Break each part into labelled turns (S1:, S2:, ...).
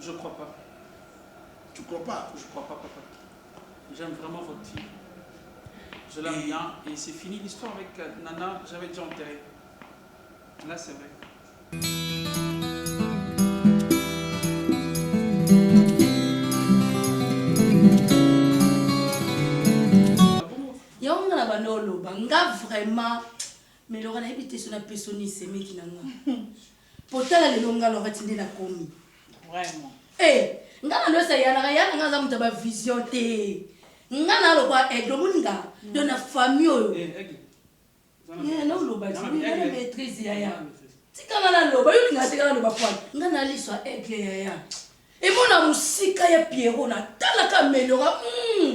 S1: Je crois pas. Tu
S2: crois pas? Je crois pas papa.
S1: J'aime vraiment votre fille. Je l'aime et... bien et c'est fini l'histoire avec euh, Nana, j'avais déjà enterré. Là c'est vrai.
S3: yango nga na banda oloba nga vraiment melora nayebi te so na pesoni semeki na nga Po tala lelo nga Lorette nde na komi. Vraiment.
S4: Eh
S3: nga na lois ya Yana Yana nga aza mutu ya ba vision te nga na lokola aigle omoni nga donc na famille oyo eh, eh, eh, na oloba ti oui nga na maîtrise yaya tika nga na loba yo linga tika na loba poil nga na liso ya aigle yaya emona musika ya Pierrot na tala ka ameliora mm.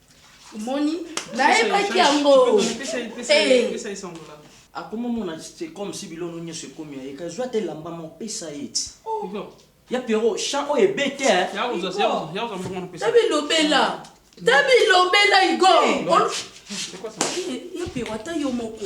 S4: omoni
S3: nayebaki yango
S5: akoma mona c'est comme si biloko nyonso ekomi ya ye kasi zwa te elamba moko pesa ye ti ya pierrot
S3: chant
S5: oyo ebe te tabilobela
S3: tabilobela igor
S1: ya pierrot ata
S3: yo moko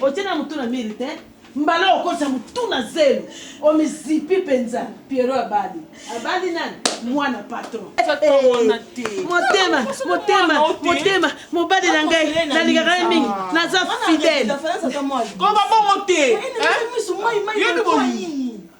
S4: Otie na mutu na mire te. Mbala oyo okotisa mutu na zelo omizipi penza pierrot abali abali nani mwana patron eh, motema motema motema mobali na ngai nalingaka ye mingi naza fidèle kobabongo te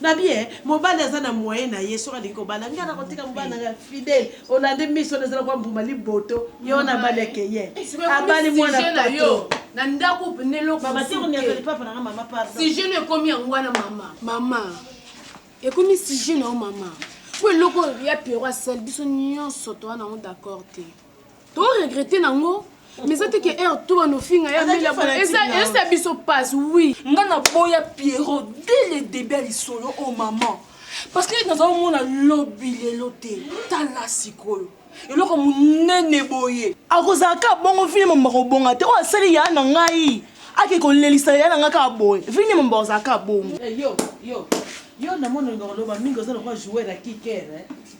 S4: Na bien mobali aza na moyen na ye soki alingi kobala ngai nako tika mobali na ngai fidèle olande miso wana eza lokola mbuma liboto ye wana abali akeyen abali mwana patron na ndaku pende
S3: eloko mama te koniata lipapa
S4: na nga mama pardon sujet no ekomi yango
S3: wana mama mama ekomi sujet na yo mama po eloko ya pero asali biso nyonso toa na yango d'accord te To regretter nango mais eza te ke heure tout banofinga ya mela boye eza eza biso passe oui nga na boya
S6: Pierrot dès le début ya lisolo oh maman parce que naza omona lobi lelo te tala sikoyo eloko monene boye akozala kaka bongo vini mambo akobonga te oyo asali ya na ngai ake kolelisa ya na ngai kaka boye vini mambo akozala kaka bongo eh, yo yo
S4: yo namona olinga koloba mingi oza lokola joueur ya kiker eh?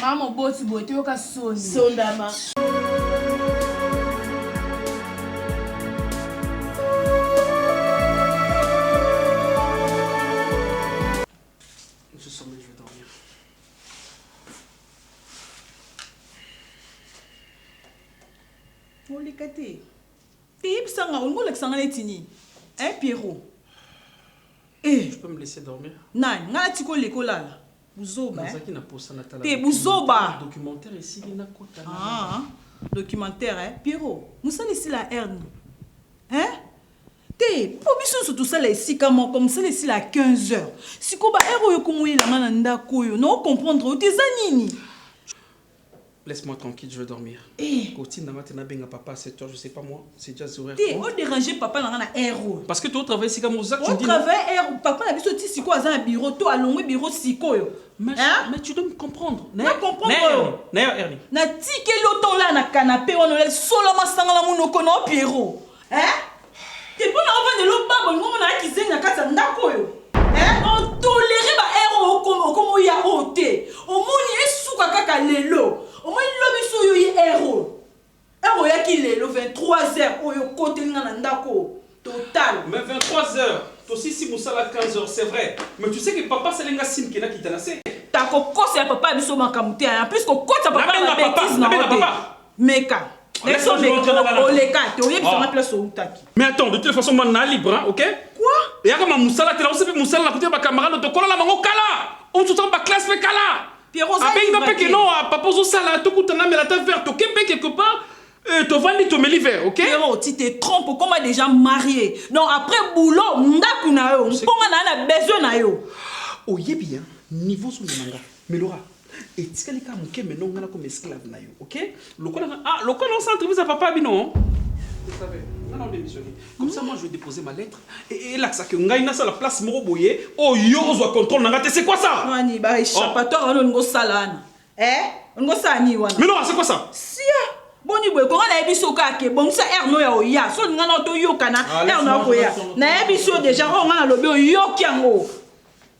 S4: Maman moboti
S3: boye toyoka
S4: soni.
S1: Sondama.
S6: oleka te eyebisa nga olingi olakisa nga neti nini e eh, pierrot
S1: eh.
S6: nani
S1: ngai natika
S6: oleka olala
S4: Buzoba. Nazaki na posa
S1: na tala. Te buzoba. Documentaire
S4: esili
S1: na kota na. Ah,
S4: documentaire eh Pierrot, musala esila Erne. Hein? Te, po biso nso tosala esika moko, musala esila 15 heures. Siko ba heure oyo komoyelama na ndako oyo, na o comprendre oyo te eza nini?
S1: Laisse moi tranquille je vais dormir. Eh. Kotinda nga te na benga papa à 7 heures je sais pas moi c'est déjà 0 heure. Te o déranger papa
S4: na nga na heure oyo. Parce que to travailler sika
S1: moza tu dis. O travailler heure
S4: papa
S1: na
S4: biso ti siko aza na bureau to alongwe bureau sikoyo. Mais, hein? mais tu dois
S1: me comprendre. Na comprendre.
S4: Na heure Ernie. Na
S1: tikeli
S4: otolaa na canapé wana olali solo masanga na munoko na Pierrot. Eh? Te mpo na ovanda elobaba olingo mona ya kizengi na kati ya ndako oyo eh? otolere ba ero okoma okoma oya oyo te omoni esuka kaka lelo omoni lobi so oyo ye ero ero oyaki lelo 23 heures oyo okoteli nga na ndako oyo total Mais 23 heures,
S1: tosisi musala 15 heures, c'est vrai. Mais tu sais que papa asali nga signe que nakita na se. ta kokosela
S4: papa ya biso makambo te hein. en plus kokotisa papa na Nabenga ba papa, betises na nabenga yo te papa. Meka. Nayebi soki omeki, oleka te, oyebisa nga place
S1: owutaki. Mais attends, de toute façon, moi, na libre, hein, ok? Quoi? Eyaka ma
S4: musala
S1: te, naosepi musala na kote ba camarades tokola na bango kala. Osusu ba classe pe kala. Pierrot, ça abengi nga mpe
S4: ke non, papa
S1: ozosala tokutana mela ata vert toke mpe quelque part Euh, tovandi tomeli verre ok pero ti te trompe
S4: okoma déjà marie donc après boulot ndako na yo mponga na yo na besoin na yo oyebi ya
S1: niveau zonga na nga Milora etikali ka muke mais non nga na comme esclave na yo ok lokola nga ah lokola on s'entrevise à papa bino vous savez nga na démissionner comme ça moi je vais déposer ma lettre et et l'axe que ngai na sala place moko boye oh yo ozwa contrôle na nga te c'est quoi ça Wani ba échappatoire
S4: wana olingo sala wana. Eh? Olingo sala nini wana? Milora c'est quoi ça
S1: Sia!
S4: Boni boye konga nayebi so kaka ke bongisa heure no ya oya so olinga na toyokana heure na okoya nayebi so deja oyo nga nalobi oyoki yango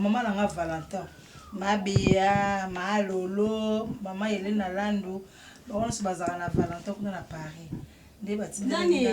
S4: mama na nga valentin mabeya maalolo mama elena landu bango nyonso bazalaka na valentin kuna na paris nde batindela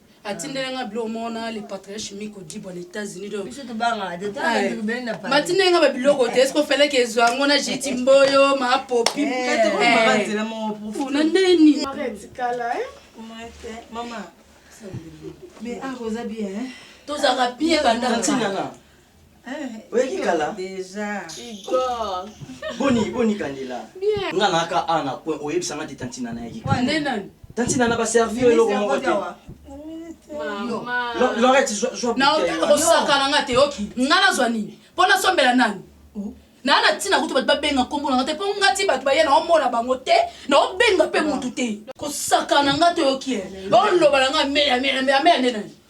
S3: atindela nga biloko moko na le patriarche miko dibwa na états-unis matinda nga babiloko te eske ofalaki ezwa yango na jeti mboyo mapopi na nde nini
S4: tozalaka bien
S3: bandaatinana
S5: oyaki kala
S6: boni boni
S5: kandela nga naka
S6: a na point
S5: oyebisa nga te tantina nayaki tantina
S3: na baservi
S5: yo eloko moko te
S6: lorete
S5: naotaka kosakana
S3: nga te oki nga nazwa nini mpo nasombela nani oh. naa na ntina kutu bato babenga nkombo na nga te mpo nga ti bato baye naomona bango te naobenga mpe motu te kosakana nga te oki oloba na nga meya meya meya meya nde nani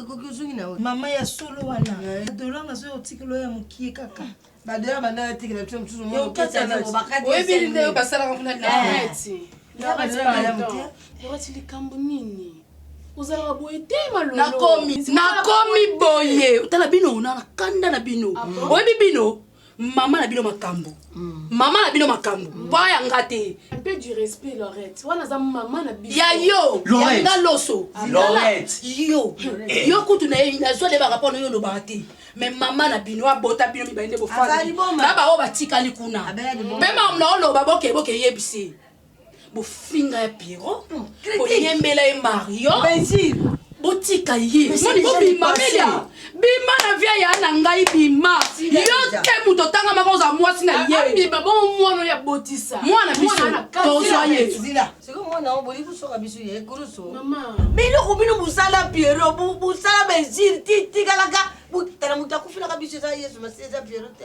S7: ekoki ozongi na oyo
S3: mama ya solo wana adolanga soki otikelo ya mokie kaka badola banda
S7: natikela biso mosusu oyebi
S3: nde oyo basalaka
S7: kuna nareti
S6: nareti likambo nini ozalaka boye te malolonakomi
S3: boye tala bino na kanda na bino ah oyebi bino Maman na bino makambu. Mm. Maman na bino makambu. Mm. Boa ya nga te. Un peu du respect
S6: Lorette. Wana za maman na bino. Ya yo. Lorette. Ya nga
S3: loso.
S5: Ah,
S3: Lorette.
S5: Yo.
S3: Eh. Yo kutu na ye na zo de ba rapport na yo lo ba te. Mais maman na bino abota bino mi ba inde bo fana. Ba ba o ba tikali kuna. Pe maman na o lo ba boke boke yebisi. bofinga ya Pierrot, boyembela ye Mario.
S7: botika
S3: ye moni bobima melia bima na via ya na ngai bima yo te moto otanga maka oza mwasi na ye mwana
S6: biso tozwa
S3: ye
S7: biloko
S6: bino bosala
S7: piero bosala baesire titikalaka tala moto akufelaka biso eza yesu masi eza piero te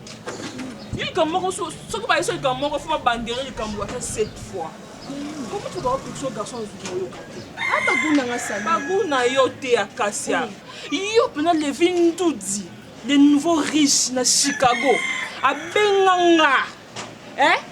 S6: Yo likambo moko soki baye so likambo moko fo babandere likambo ata sept fois komi to baopikso garçon ozuki oyoka te ata guna nga sali baguna yo te ya kasia yo mpena levi ndudi le nouveau riche na chicago abenga nga eh?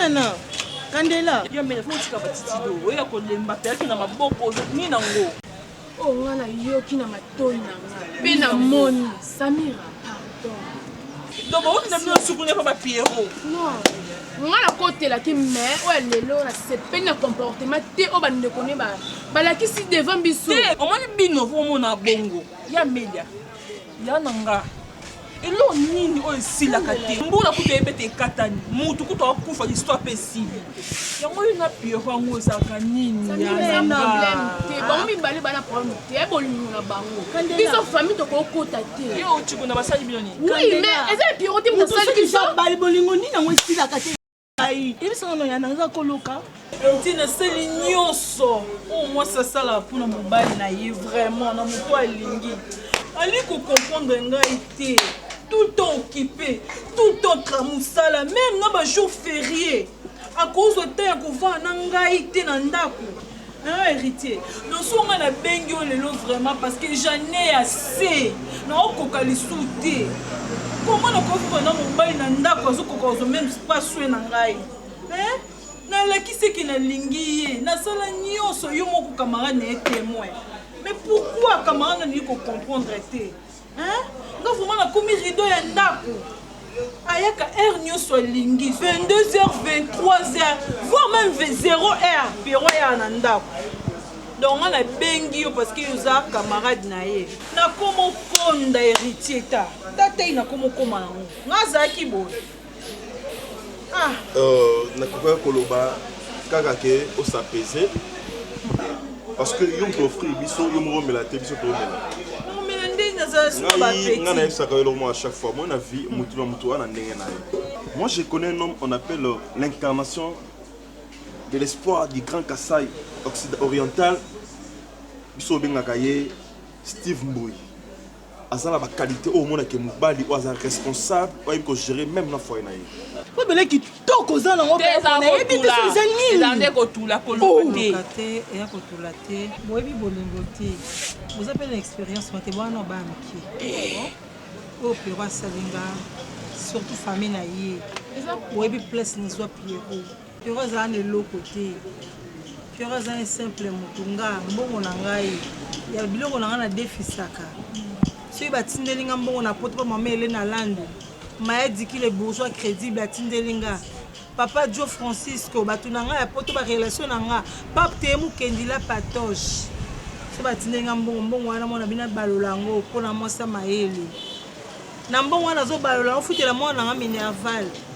S6: Nana
S4: Kandela. Ya mele faut tika ba
S6: titido. Oya ko lemba peyaki na maboko ni na ngo. Oh nga na
S8: yoki na matoi na nga. Pe na moni Samira. donc
S6: baoki na bino sukuna epa ba pierrot
S8: nga nakotelaki mai oyo lelo nasepeli na comportement te oyo bandeko ne balakisi devant biso omoni bino
S6: omona bongo ya media ya na nga eloko nini oyo esilaka te mbula kutu eyebete ekatani mutu kutu akufa lisito ape esili yango yo na pierro yango ezalaka nini bango
S8: mibale bana problème te ya bolingo na bango biso famille tokokota te yo otiko na basali bino
S6: nini oui mais eza ya
S8: pierro te motasali kisabali bolingo nini yango
S4: esilaka te ngai ebisanga no yana eza koloka ti nasali
S6: nyonso oyo mwasi asala mpona mobali na ye vraiment na moto alingi ali kokomprendre ngai te tout le temps occupe tout le temps tra mosala meme na ba jour ferie akozwa temps ya kovanda na ngai te na ndako hein, héritier noso ngai nabengi yo lelo vraiment parce que j'en ai assez naokoka lisusu te koma nakoviva na mobali na ndako azokoka kozwa meme paswe na ngai hein? nalakisi eke nalingi ye nasala nyonso yo moko camarade na ye témoin mais pourquoi camarade nalingi kocomprendre te Hein? Nga vraiment nakomi rideau ya ndako. Ayaka heure nyoso alingi 22h 23h voire même 0h Pierrot ayaka na ndako. Donc nga nabengi yo parce que oza camarade na ye. Nakomo konda heritier ta ta tei nakomo koma yango. Nga azalaki boye. Ah. Euh,
S9: nakokaki koloba kaka ke osapese
S6: parce
S9: que yo moto ofri biso yo moko omela te biso toomela ngai nayebisaka yo eloko moko à chaque fois moi na vie motu na motu wana ndenge na ye moi je connais un homme on appelle euh, l'incarnation de l'espoir du grand kasai oriental biso obengaka ye steve mboyi aza na ba qualité oyo omonake mobali oyo aza responsable oyo ayebi kogere meme na foye na ye po bele
S6: kitoko oza nango nayebi biso eza niniezande kotula
S10: koloba te eya kotula
S11: te boyebi bolingo te boza mpe na expérience mate bwana oba mike oyo pero asalinga surtout famille na ye boyebi place nazwa pierrot Pierrot azala na eloko te Pierrot aza un simple mutu nga mbongo na ngai ya biloko na ngai na defisaka soki batindeli nga mbongo na poto pa mama Helène Alandu Maya Diki le bourgeois credible atindeli nga papa Joe Francisco bato na ngai ya poto ba relation na nga pape teye mukendi la patoche so batindeli nga mbongo mbongo wana mwana bino abalola yango mpo na mwasi ya mayele na mbongo wana azobalola ofutela mwana na nga minerval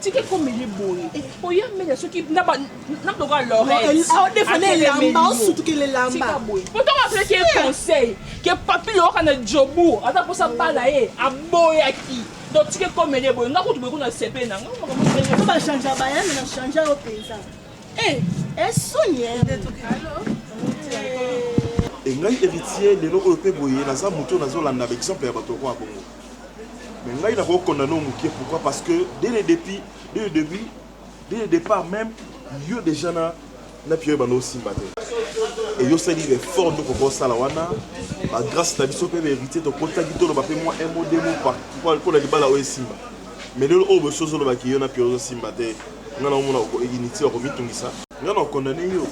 S6: tika ekomeli
S10: boye oya mbela soki nalokola
S6: loretika boye potoma apelaki ye
S10: conseil ke papi loyoka na jobu aza mposa bala ye aboyaki donc tika ekomeli ye boye nga kutu boye kuna sepe na ngabachange
S6: bayana na change yo mpenza esoni
S9: engai héritier lelo oyo mpe boye naza moto nazolanda baexemple ya bato okoa bongo Mais ngai nako condamne yo mukie pourquoi parce que dès le depuis dès le debut dès le depart meme yo dejà na na Pierre banda osimba te et yo sali effort nde okoki osala wana ba grâce na biso mpe ba héritier tokotaki toloba mpe mwa un mot deux mots par mpo na libala oyo esimba mais lelo oyo bosi ozoloba ki yo na Pierre ozosimba te nga na omona inutile okomitungisa nga na okondane yo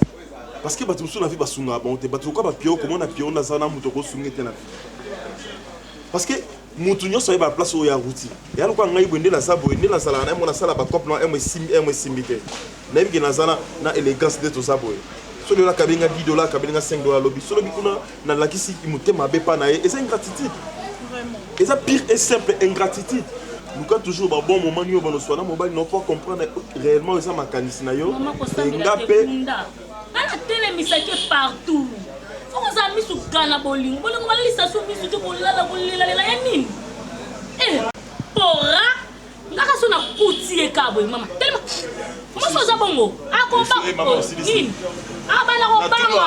S9: parce que bato mosusu na vie basungaka bango te bato lokola ba Pierre okomona Pierre nde aza na moto okosunga te na vie Parce que mutu nyonso ayeba place oyo awuti ya lokola ngai boye nde naza boye nde nazalaka na yango nasala bacope na yango esimbi yango esimbi te nayebi ke naza na élégance nde toza boye solo oyo akabeli nga 10 dola akabeli nga 5 dola alobi solo bi kuna nalakisi motema mabe mpa na ye eza ingratitude eza pire et simple ingratitude luka toujours babon moment nio banoswana mobali nao mpo comprendre réellement eza makanisi na yo enga mpe nga
S3: natelemisaki ye partout foko oza misu kala na bolingo bolingo balalisa so misu te kolala kolelalela ya nini eh, pora ngaka so nakuti ye ka boye mama telema mosi oza bongo akoba nini abana kobanga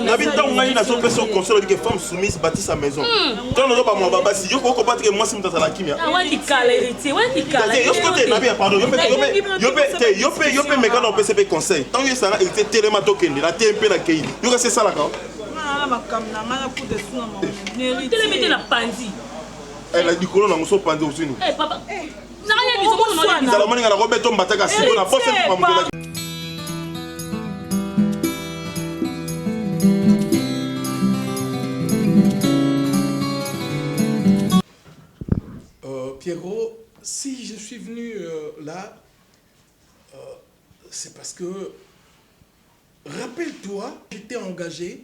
S9: nabi ntango ngai nazopesa yo conseil olobike femme soumise bati sa maison ntango nazo bamwa babasi yo kokoba teke mwasi moto azala kimia
S3: yo
S9: mpe yo mpe mekana opesa mpe conseil ntango esanga héritier telema tokende na te mpe na kei yo kasi esalaka
S3: eh, na
S9: likolo nango so panzi osini eh,
S3: zala moninga na kobeto
S9: mbataka siko na posa mpima mokelaki euh,
S2: Pierrot, si je suis venu euh, là, euh, c'est parce que, rappelle-toi, j'étais engagé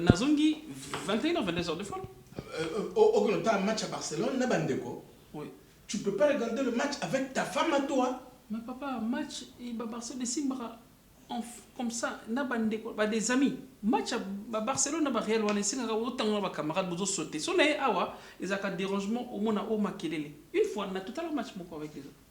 S1: Nazongi 21 heures 22 heures de fois. Okende
S2: otala match ya Barcelone na ba ndeko. Oui. Tu
S1: peux pas regarder
S2: le match avec ta femme à toi. Mais papa match
S1: et ba Barcelone esimbaka comme ça na ba ndeko ba des amis. Match ya ba Barcelone na ba Real wana esengaka otanga na ba camarades bozo sauter. So na ye awa ezalaka derangement omona o makelele. Une fois na totala match moko avec les autres.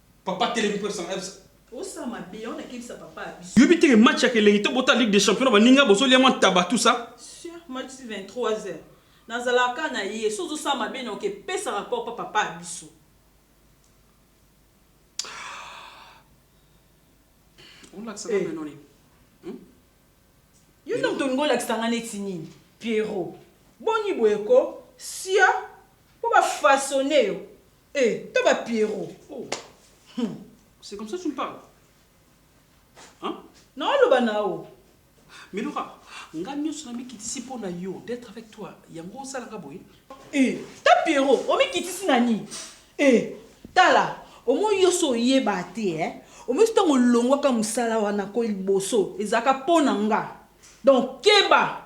S1: Papa atelemi po esanga biso. Osala mabe
S4: yango na kebisa papa ya biso. Yoyebi te ke match yaka
S1: elengi to bota ligue de champion na baninga bozo lia mwa ntaba tout ça. Sur match 23
S4: heures na zalaka kaka na ye soki ozo sala mabe na oke pesa rapport pa papa ya biso.
S1: Olakisa nga bino nini?
S4: Yo nde mutu olingi olakisa nga neti nini? Pierrot boni boye ko siaa po ba façonner yo. Eh ta ba Pierrot. Oh
S1: hum c'est comme ça tu me parles hein? Nao
S4: loba nao. Milora
S1: nga nionso na mikitisi mpo na yo d'etre avec toi yango osala nga boye? Eh ta
S4: Pierrot omikitisi na nini? Eh tala omoni yo osi oyeba te eh omoni osi tango olongwaka musala wana ko liboso ezalaka mpo na nga donc keba.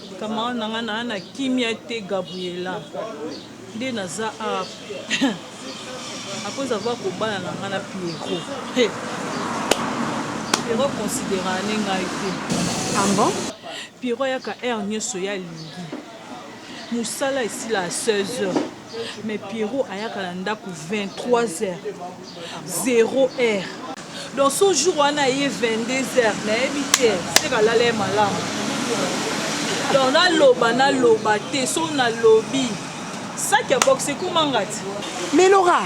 S4: Camarade na nga na na kimia te Gabriela nde naza awa après avoir kobala na nga na Pierrot hey. Pierrot considérant ne ngai te ah bon
S6: Pierrot ayaka
S4: heure nyonso ya lingi mosala esila à 16 heures mais Pierrot ayaka na ndako 23 heures zero heure donc so jour wana eye 22 heures nayebi te se kalala ye malamu donc naloba naloba te so nalobi saki ya boxe ekomangati melora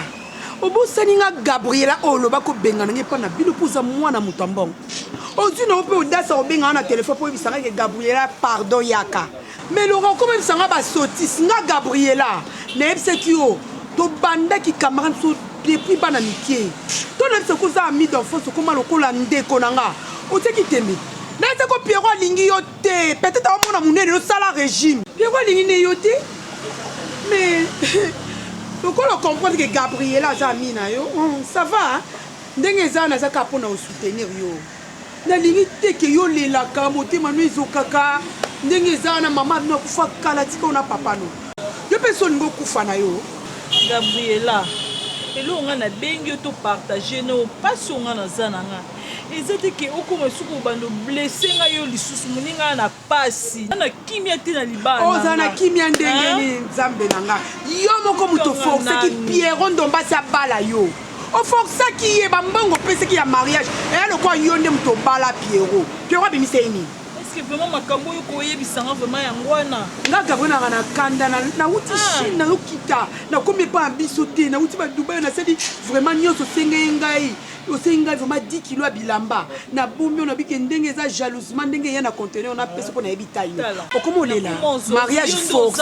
S6: obosani nga gabriela oyo oloba kobengana ngai mpo na bino mpo oza mwana moto ya mbongo ozwi nango mpe odasa kobenga nga na telefone mpo oyebisa ngai ke gabriela pardon yaka Mais Laurent ko bebisa nga ba sotis nga Gabriela na yebisaki yo to banda ki camarade so depuis
S12: bana mikie to na yebisa ko oza ami d'enfance okoma lokola ndeko na nga otie ki tembe na yebisa ko Pierrot alingi yo te peut-etre azo mona munene yo sala regime Pierrot alingi ne yo te mais lokola o comprendre que Gabriela aza ami na yo ça va ndenge eza naza kaka pona o soutenir yo. Nalingi te que yo olelaka motema no ezokaka ndenge eza wana maman no akufa kala tika yo na papa no yo pe esi olingi okufa na yo. Gabriella
S6: eloko nga na bengi yo to partage na yo pasi oyo nga naza na nga eza te ke okoma esuka obanda o blesse nga yo lisusu moninga na pasi na kimia te na libala oza na kimia ndenge
S12: nini nzambe na nga yo moko moto forceki piero ndombasi abala yo oforcaki ye bambongo opesaki ya mariage eya lokola yo nde moto obala piero piero abimisa ye nini eske vraiment makambo
S6: oyo koyebisanga vraiment yango wana nga gabriel nanga na
S12: kanda nauti ah. chine nayokita nakomi epa ya biso te nauti badubai nasali vraiment nyonso osengeye ngai Osengi ngai vraiment 10 kilos ya bilamba na bomi oyo na bike ndenge eza jalousement ndenge eya na conteneur na pesa mpo nayebi taille no okomi olela mariage forcé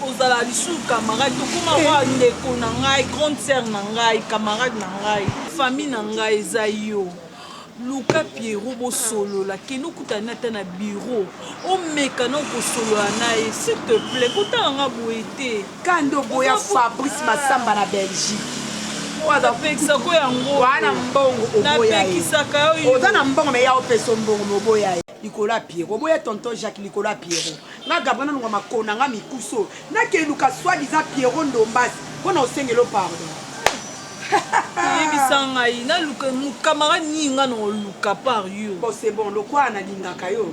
S12: ozala
S6: lisusu camarade tokoma eh. wa ndeko na ngai grande sœur na ngai camarade na ngai famille na ngai eza yo luka pierrot bosolola kende okutani ata na biro omeka na okosolola na ye s'il te plaît kotanga nga boye te Kanda oboya
S12: Fabrice Massamba na Belgique. Napekisako
S6: yango. Wana mbongo
S12: oboya ye.
S6: Oza na mbongo mais ya opesa
S12: mbongo mais oboya ye. Likolo ya Pierrot. Oboya tonton Jacques likolo ya Pierrot. Nga Gabriel nalunga makona nga mikuso. Nake luka soit disant Pierrot Ndombas pona osengela yo pardon. Yebisa
S6: ngai naluka camarade nini nga nako luka par yo. Bon c'est bon lokola
S12: nalingaka yo.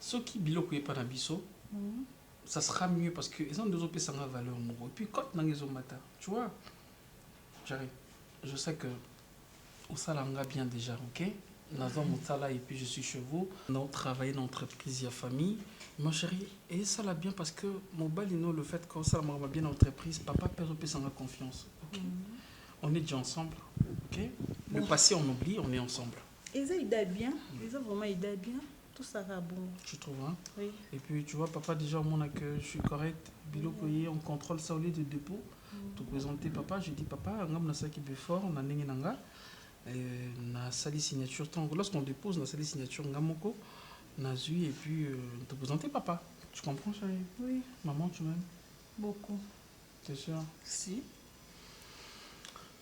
S1: Soki biloko epa na biso ça sera mieux parce que eza nde ozo pesa nga valeur moko epuis cote na nga ezo mata tu vois Jerry je sais que osala nga bien dejà ok nazua musala epuis je suis chez vous nao travailler na entreprise ya famille ma cherie esala bien parce que mobali no le fait que osala makambo ya bien na entreprise papa pe azo pesa nga confiance ok on est dejà ensemble ok le passé on oublie on est ensemble Eza idee bien,
S6: eza vraiment idee bien, tosaka bongo. Tu trouves hein? Oui.
S1: Et puis tu
S6: vois papa
S1: déjà omona que je suis correct, biloko ye on contrôle ça au lieu de depot. Mm. To présenter papa, je dis papa, ngam na saki befort na ndenge na nga. Euh, na sali signature tant lorsqu'on dépose na sali signature nga moko na zui et puis euh, te présenter papa. Tu comprends chérie? Oui. Maman tu
S6: m'aimes?
S1: Beaucoup.
S6: T'es sûr?
S1: Si.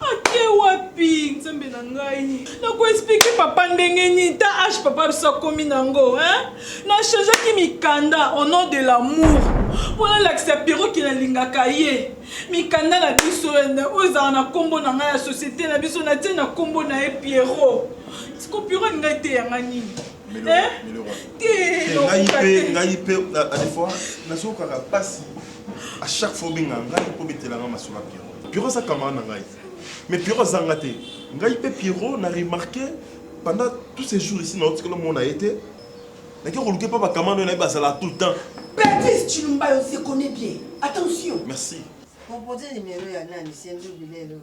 S6: Ake wapi nzambe na ngai na ko explique papa ndenge nini ta age papa biso akomi nango hein na changeaki mikanda au nom de l'amour mpo nalakisa pierrot ke nalingaka ye mikanda na biso oyo ezala na nkombo na ngai ya societe na biso natie na nkombo na ye pierrot siko pierrot alinga eteya ngai
S9: nini ngai mpe na defois nazokaka mpasi à chaque fois obenga ngai mpo betelanga masolo ya pierrot Pierrot aza camarade na ngai. Mais Pierrot aza nga te. Ngai pe Pierrot na remarquer pendant tous ces jours ici na otikala mona ye te. Na ke koluke pa ba camarade oyo na ye bazala tout le temps. Betises Tshilumba
S7: yo se connais bien. Attention. Merci.
S9: Proposer numero
S7: ya nani? Sendou Bilel oyo.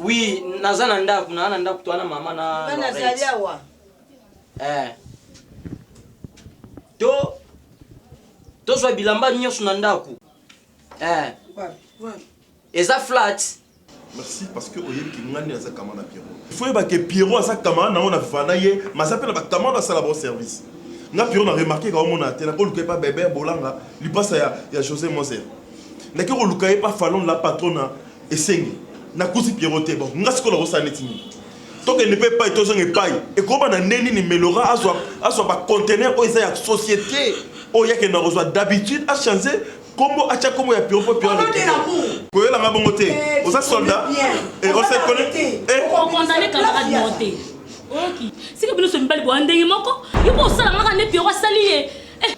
S3: Oui, naza na
S5: ndaku, na na ndaku toi na mama na Bana zali awa.
S7: Eh.
S5: To to zwa bilamba nyonso na ndaku. Eh. Eza flat. Merci parce
S9: que oyebi ki ngani aza kama na Pierrot. Il faut yeba que Pierrot aza kama na ona vana ye, maza pe na ba kama na sala bon service. Nga Pierrot na remarquer ka omona te na ko luka pa bébé bolanga lipasa ya ya José Moser. Nake koluka ye pa falon la patrona esengi nakuti Pierrot te bon nga sikoyo nakosala neti nini tokende mpe epai tozonga epai ekoba na nde nini melora azwa azwa ba conteneur oyo eza ya société oyo yakende na kozwa d'habitude achange kombo atya kombo ya Pierrot mpo Pierrot koyela nga bongo te oza soldat et on se connaît eh condamné
S3: camarade moko te oyoki sika bino so mibali boya ndenge moko yo mpo osala ngaka nde Pierrot asali ye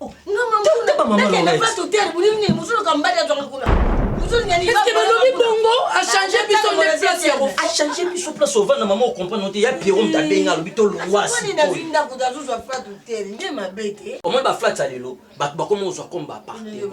S7: Oh, Eske balobi bongo
S3: achange biso nde place ya kofa achange biso place
S5: ovanda mama okomprendre te ya pierro moto abenga alobi tolongwasi
S7: omoni baflats ya lelo
S5: bato bakoma kozwa comme bapartement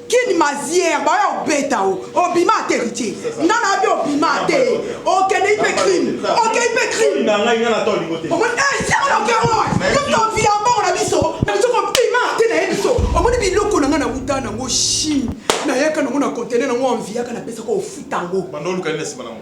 S12: Kin mazière baoya obeta o obima ate héritier nga na abi obima ate okende ipe crime okei ipe crime na
S9: ngai nga na to lingo te omoni eh siamo na
S12: ke oa yo to via mbongo na biso na biso ko bima ate na ye biso omoni biloko na nga na wuta na ngo chine na yaka na ngo na conteneur na ngo enviaka na pesa ko ofuta ngo banda oluka nini na sima na ngo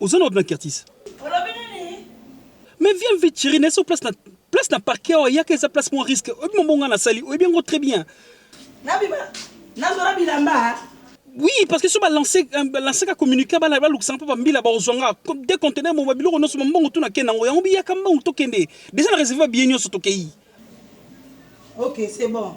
S13: Oza na ordinateur Curtis? Olobi nini? Mais viens vite chérie, na so place na place na parquet awa yaka eza place moins risque. Oyebi mambo nga nasali, oyebi yango très bien. Nabima nazora bilamba. Oui, parce que so ba lancer ba lancer ka communiquer bala ba lukisa mpo ba mbila ba ozwa nga comme des conteneurs mo ba biloko nyonso ba mbongo tuna ke nango yango biyaka mbongo tokende. Déjà na réserver ba billets nyonso tokei.
S4: Ok, c'est bon.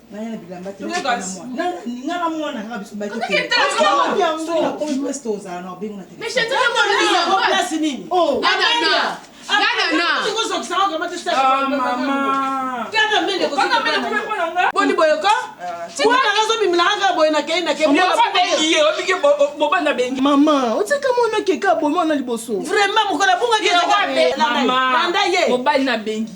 S4: boni boyoko azobimilaka boye nakei nakebobanda bengi
S6: mama otika mwana keka bomi wana liboso vraiment mokolo abungaki
S4: mobali
S6: na bengi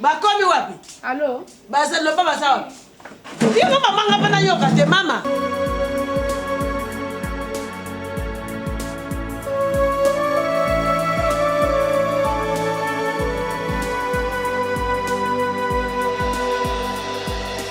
S4: bakomi
S8: wapi
S4: baza
S8: loba baza
S4: wapi yango mamanga mpe nayoka te mama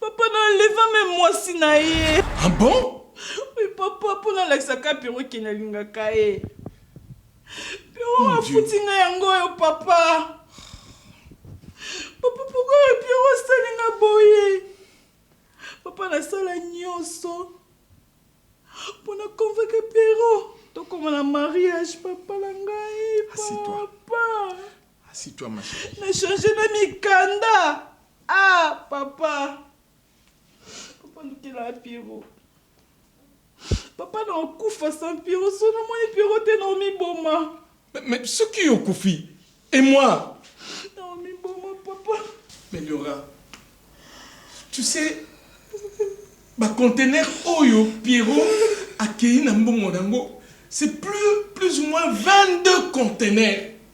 S4: Papa na leva me mwasi na ye. Ah bon?
S2: Oui papa,
S4: mpo nalakisa ka Pierrot ke nalingaka ye. Pierrot afuti nga yango oyo papa. Papa pourquoi oyo Pierrot asali nga boye? Papa nasala nyonso mpo na convaincre Pierrot tokoma na mariage papa na ngai papa. Merci toi ma
S2: chérie. Na changer na
S4: mikanda. Ah papa. Papa lukela Pierrot. Papa na okufa sans Pierrot so na moni Pierrot te na omi boma. Mais soki
S2: yo kufi et moi? Na omi
S4: boma papa. Meliora.
S2: Tu sais ba conteneur oyo Pierrot akeyi na mbongo nango c'est plus plus ou moins 22 conteneurs.